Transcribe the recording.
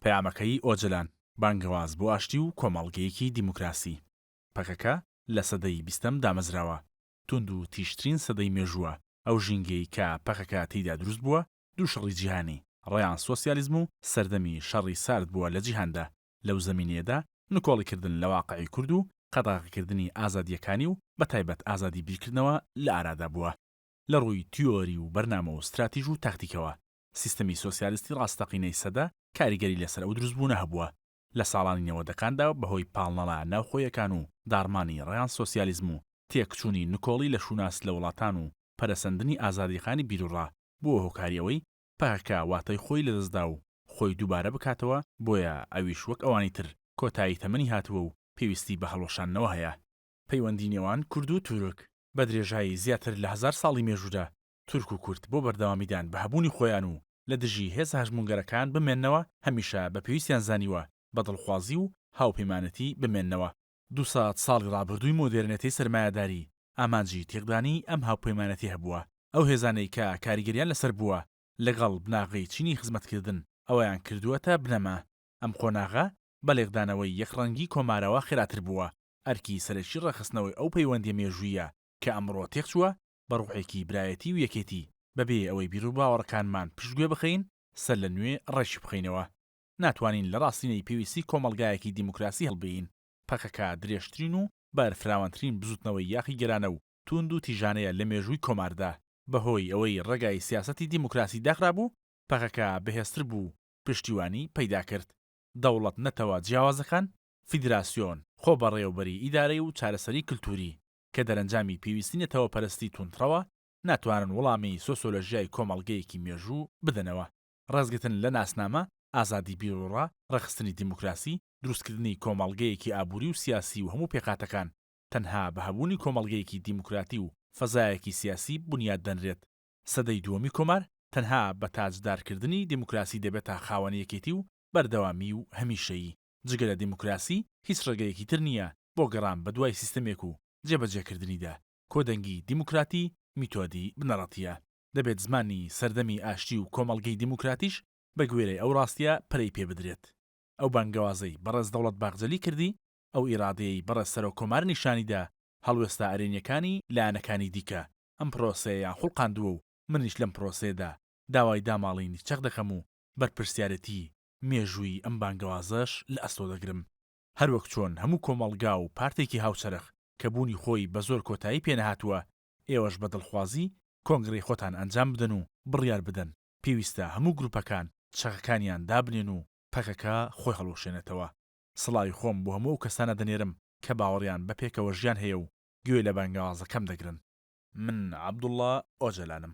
پەیامەکەی ئۆجەلان، بانگەواز بۆ ئاشتی و کۆمەڵگەیەکی دیموکراسی. پەکەکە لە سەدەی بیستەم دامەزراوە، توندوتیژترین سەدەی مێژووە، ئەو ژینگەی کە پەکەکە تێیدا دروست بووە، دوو شەڕی جیهانی، ڕەیان سۆسیالیزم و سەردەمی شەڕی سارد بووە لە جیهاندا، لەو زەمینەیەدا نکۆڵیکردن لە واقعی کورد و قەدەغەکردنی ئازادییەکانی و بەتایبەت ئازادی بیرکردنەوە لە ئارادا بووە لە ڕووی تیۆری و بەرنامە و ستراتیژ و تاکتیکەوە، سیستمی سۆسیالستی ڕاستەقینەی سەدە کاریگەری لەسەر ئەو دروستبوونە هەبووە لە ساڵانی نەوەدەکاندا بەهۆی پاڵنەرە ناوخۆیەکان و داڕمانی ڕێان سۆسیالیزم و تێکچوونی نکۆڵی لە شووناس لە وڵاتان و پەرەسەندنی ئازادییەکانی بیروڕا بووە هۆکاری ئەوەی پەکەکە واتای خۆی لەدەستدا و خۆی دووبارە بکاتەوە، بۆیە ئەویش وەک ئەوانی تر کۆتایی تەمەنی هاتووە و پێویستی بە هەڵوەشاندنەوە هەیە. پەیوەندی نێوان کورد و تورک بە درێژایی زیاتر لە هەزار ساڵی مێژوودا تورک و کورد بۆ بەردەوامیدان بە هەبوونی خۆیان و لە دژی هێزە هەژموونگەرەکان بمێننەوە، هەمیشە بە پێویستیان زانیوە بە دڵخوازی و هاوپەیمانەتی بمێننەوە. دوو سەد ساڵی ڕابردووی مۆدێرنێتەی سەرمایەداری، ئامانجی تێکدانی ئەم هاوپەیمانەتییه بووە. ئەو هێزانەی کە کاریگەریان لەسەر بووە لەگەڵ بناغەی چینی خزمەتکردن، ئەویان کردووەتە بنەما. ئەم قۆناغە بە لێکدانەوەی یەکڕەنگی کۆمارەوە خێراتر بووە. ئەرکی سەرەکی ڕێکخستنەوەی ئەو پەیوەندییە مێژووییە کە ئەمڕۆ تێکچووە، بە ڕوحێکی برایەتی و یەکێتی، بەبێ ئەوەی بیروباوەڕەکانمان پشتگوێ بخەین، سەرلەنوێ ڕێکی بخەینەوە. ناتوانین لە ڕاستینەی پێویستی کۆمەڵگایەکی دیموکراسی هەڵبێین. پەکەکە درێژترین و بەرفراوانترین بزووتنەوەی یاخیگەرانە و تووند و تیژانەیە لە مێژووی کۆماردا. بەهۆی ئەوەی ڕێگای سیاسەتی دیموکراسی داخرابوو، پەکەکە بەهێزتر بوو و پشتیوانی پەیدا کرد. دەوڵەت-نەتەوە جیاوازەکان، فیدراسیۆن، خۆبەڕێوەبەریی ئیدارەی و چارەسەری کلتووری، کە دەرەنجامی پێویستی نەتەوەپەرستی توندڕەوە، ناتوانن وڵامی سۆسۆلۆژیای کۆمەڵگەیەکی مێژوو بدەنەوە، ڕێزگرتن لە ناسنامە، ئازادی بیروڕا، ڕێکخستنی دیموکراسی، دروستکردنی کۆمەڵگەیەکی ئابووری و سیاسی و هەموو پێکهاتەکان، تەنها بە هەبوونی کۆمەڵگەیەکی دیموکراتی و فەزایەکی سیاسی بونیاد دەنرێت. سەدەی دووەمی کۆمار تەنها بە تاجدارکردنی دیموکراسی دەبێتە خاوەن یەکێتی و بەردەوامی و هەمیشەیی. جگە لە دیموکراسی هیچ ڕێگەیەکی تر نییە بۆ گەڕان بەدوای سیستەمێک و جێبەجێکردنیدا، کۆدەنگی دیموکراتی میتۆدی بنەڕەتییە، دەبێت زمانی سەردەمی ئاشتی و کۆمەڵگەی دیموکراتیش بەگوێرەی ئەو ڕاستییە پەرەی پێبدرێت. ئەو بانگەوازەی بەڕێز دەوڵەت باخجەلی کردی، ئەو ئیرادەیەی بەڕێز سەرۆک کۆمار نیشانیدا، هەڵوێستە ئەرێنییەکانی لایەنەکانی دیکە ئەم پرۆسەیەیان خوڵقاندووە و منیش لەم پرۆسەیەدا داوای داماڵینی چەق دەکەم و بەرپرسیارێتیی مێژووی ئەم بانگەوازەش لە ئەستۆ دەگرم. هەروەک چۆن هەموو کۆمەڵگا و پارتێکی هاوچەرخ کە بوونی خۆی بە زۆر کۆتایی پێ نەهاتووە، ئێوەش بە دڵخوازی کۆنگرەی خۆتان ئەنجام بدەن و بڕیار بدەن، پێویستە هەموو گروپەکان چەکەکانیان دابنێن و پەکەکە خۆی هەڵوەشێنێتەوە. سڵاوی خۆم بۆ هەموو ئەو کەسانە دەنێرم کە باوەڕیان بە پێکەوەژیان هەیە و گوێ لە بانگەوازەکەم دەگرن. من عەبدوڵا ئۆجەلانم.